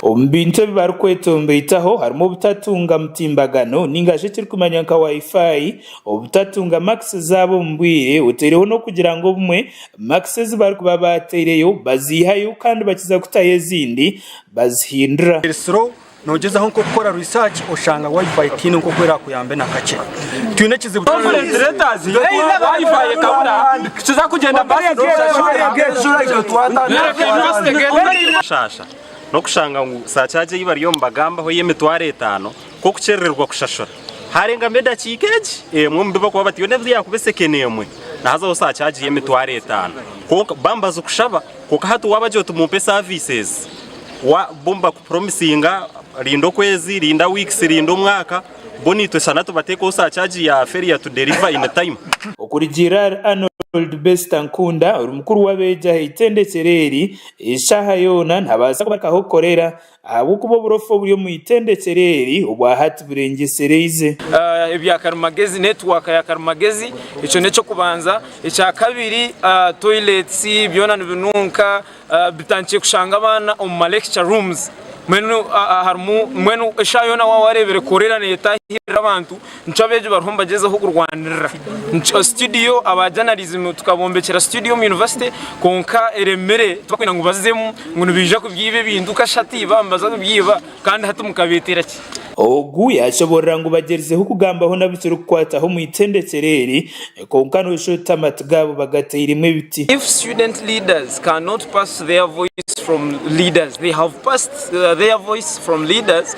Omu bintu ebi barikweta omu baitaho harimu obutatunga mutimbagano nainga shi ekirikumanywa nka Wi-Fi Obutatunga makisi zaabo omu bwire oteireho n'okugira ngu obumwe makisi ezi barikuba baateireyo baziihayo kandi bakiza kutayo ezindi bazihindura. Erisiro, Noogyezaho nk'okukora riisaaki oshanga Wi-Fi teine nk'oku eraakuyambe na kakye? Twine ekizibu kya Wi-Fi ekabura, nikiza kugyenda baasi n'oshashura. Shaasha, N'okushanga ngu saacaagi ei bariyo nibagambaho ey'emitwaro etaano k'okukyerererwa kushashura haarengama edakiika egi emwe omu bi bakuba bati yoona ebi yaakuba esekeni emwe nahazaho saa kyaaji y'emitwaro etaano kwonka bambi bazi kushaba kwonka hati waabagira oti mumpe services wa bo nibakupromisinga rinda okwezi rinda weeks rinda omwaka bo naitwe shana tubatekeho saa kyaaji ya failure to deliver in time. Okurugiirira ahari Arnold Bester Nkunda ori mukuru w'abeegi aha itendekero eri, eshaaha yoona nihabaasa kubarikaho korera Ahabw'okuba oburofa oburi omu itendekyere eri obwa hati burengyesereize. Ebya karimagezi, netiwaaka ya karimagezi, ekyo n'eky'okubanza. Ekya kabiri, toilets byona nibinunka, bitandikire kushanga abaana omu ma lecture rooms, mbwenu harimu, mbwenu eshaaha yoona waaba wareebire korera netahirira abantu, nikyo abeegi bariho nibagyezaho kurwanirira situdiyo aba janarizimu tukabombekyera situdiyo omu yunivasite kwonka eremire tibarikwenda ngu bazemu ngu nibaija kubyiba ebintu kashati baaba nibaza kubyiba kandi hati mukabeetera ki? Ogu yaashoboorora ngu bagyerizeho kugambaho naburi kirikukwataho omu itendekyeero eri kwonka nooshusha oti amatu gaabo bagatairemu ebiti. If student leaders cannot pass their voice from leaders, they have passed their voice from leaders.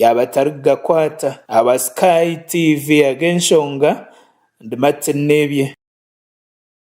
Yaaba atarikugakwata aba Sky TV ahabw'enshonga ndi Martin Nebye.